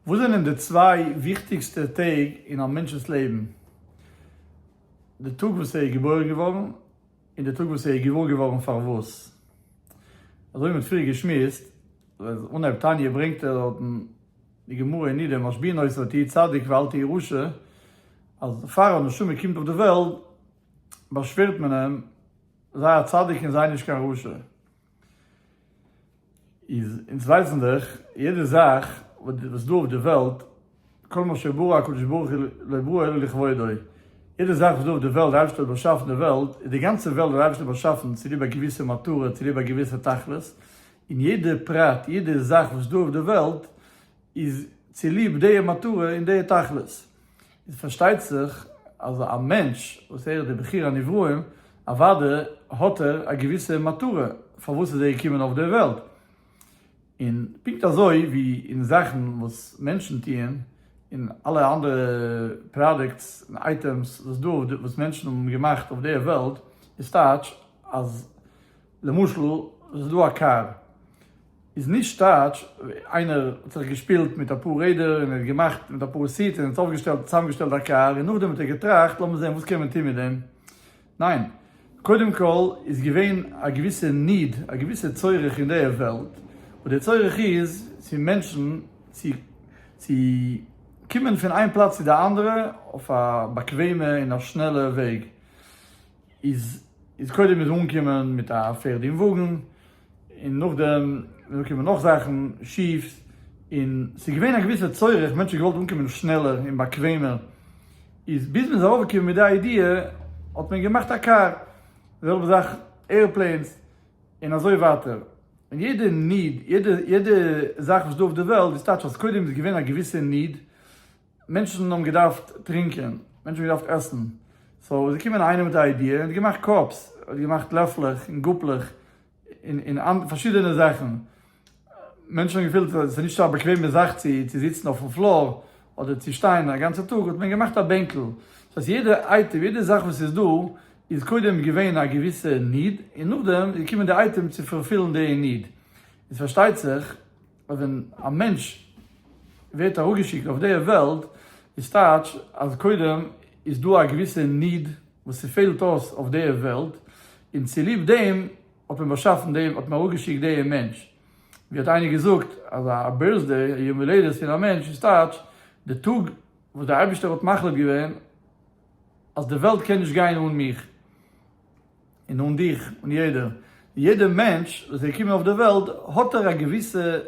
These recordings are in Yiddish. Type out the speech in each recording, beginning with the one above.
וואס זענען די צוויי וויכטיגסטע טעג אין א מענטש'נס לעבן? די טאג וואס ער איז געבוירן געווארן, און די טאג וואס ער איז געוואר געווארן פארוואס. אזוי ווי מ'האט פריער געשמועסט, ווען אנהייב תניא ברענגט ער דארט אין די גמרא אין נידה משביעין אויס אל תהי' צדיק ואל תהי' רשע, אז פאר א נשמה קומט אויף די וועלט באשווערט מען אים, זיי א צדיק און זיי נישט קיין רשע. איז אונז ווייסן דאך יעדע זאך וואס דא אויף די וועלט כל מה שברא הקדוש ברוך הוא לא ברא אלא לכבודו, יעדע זאך וואס דא אויף די וועלט די אייבערשטער האט באשאפן די וועלט איז די גאנצע וועלט די אייבערשטער האט באשאפן צוליב א געוויסע מטרה צוליב א געוויסע תכלית, און יעדע פרט יעדע זאך וואס דא אויף די וועלט איז צוליב די מטרה און די תכלית. איז פארשטייט זיך אז א מענטש וואס ער איז דער בחיר הנבראים, אוודאי האט ער א געוויסע מטרה פארוואס איז ער געקומען אויף דער וועלט. און פונקט אזוי ווי אין זאכן וואס מענטשן טוען, און אלע אנדערע פראדוקטס און אייטעמס וואס איז דא וואס מענטשן האבן געמאכט אויף דער וועלט, איז טייטש אז למשל איז דא א קאר, איז נישט סטייטש, איינער האט זיך געשפילט מיט אפאר רעדער און ער האט געמאכט מיט אפאר סיטס און ער האט אויפגעשטעלט צוזאמגעשטעלט א קאר און נאכדעם האט ער געטראכט לאמיר זעהן וואס קען מען טוהן מיט דעם, ניין, קודם כל איז געווען א געוויסע need, א געוויסע צורך אין דער וועלט, וואס דער צורך איז צו מענטשן צו צו קומען פון איין פלאץ צו די אנדערע אויף א באקוועמע און א שנעלע וועג, איז איז קודם איז אנגעקומען מיט א פערד און וואגן, און נאכדעם זענען געקומען נאך זאכן שיף, און ס'איז געווען א געוויסע צורך, מענטשן האבן געוואלט אנקומען שנעלער און באקוועמער, איז ביז מ'איז ארויפגעקומען מיט די איידיע, האט מען געמאכט א קאר, די זעלבע זאך עיראפלעינס, און אזוי ווייטער, און יעדע ניד, יעדע זאך וואס איז דא אויף די וועלט, דאס טייטש אז קודם איז געווען א געוויסע ניד, מענטשן האבן געדארפט טרינקען, מענטשן האבן געדארפט עסן, סאו איז געקומען איינער מיט א איידיע און האט געמאכט קאפס, האט געמאכט לעפלעך און גאפלעך און אנ. פארשידענע זאכן, מענטשן האבן געפילט אז עס איז נישט א באקוועמע זאך צו צו זיצן אויפן פלאר אדער צו שטיין א גאנצע טאג, האט מען געמאכט א בענקל, דאס הייסט יעדע אייטעם, יעדע זאך וואס איז דא איז קודם געווען א געוויסע ניד און נאכדעם איז געקומען די אייטעם צו פארפילן די ניד, איז פארשטייט זיך. אז ווען א מענטש ווערט אראפגעשיקט אויף די וועלט, איז טייטש אז קודם איז דא א געוויסע ניד וואס ס'פעלט אויס אויף די וועלט, און צוליב דעם האט מען באשאפן די, האט מען אראפגעשיקט די מענטש. ווי האט איינער געזאגט, אז א בירט'סדעי, א יום הולדת פון א מענטש, איז טייטש די טאג וואס דער אייבערשטער האט מחליט געווען אז די וועלט קען נישט גיין אן מיך, און אן דיך, און יעדער. יעדער מענטש וואס איז געקומען אויף דער וועלט האט ער א געוויסע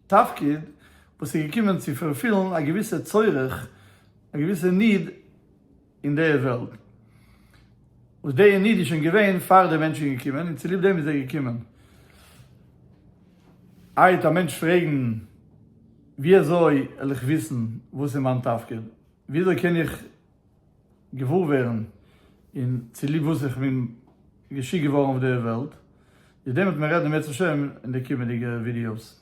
תפקיד וואס איז געקומען צו פארפילן א געוויסע צורך, א געוויסע ניד אין דער וועלט. וואס דער ניד איז שוין געווען פאר דער מענטש איז געקומען און צוליב דעם איז ער געקומען. איידער א מענטש פרעגן ווי אזוי וועל איך וויסן וואס איז מיין תפקיד? ווי אזוי קען איך. געוואר ווערן און צוליב וואס איך בין געשיקט געווארן אויף דער וועלט, איז דעם וועט מען רעדן אם ירצה השם אין די קומענדיגע ווידיאוס.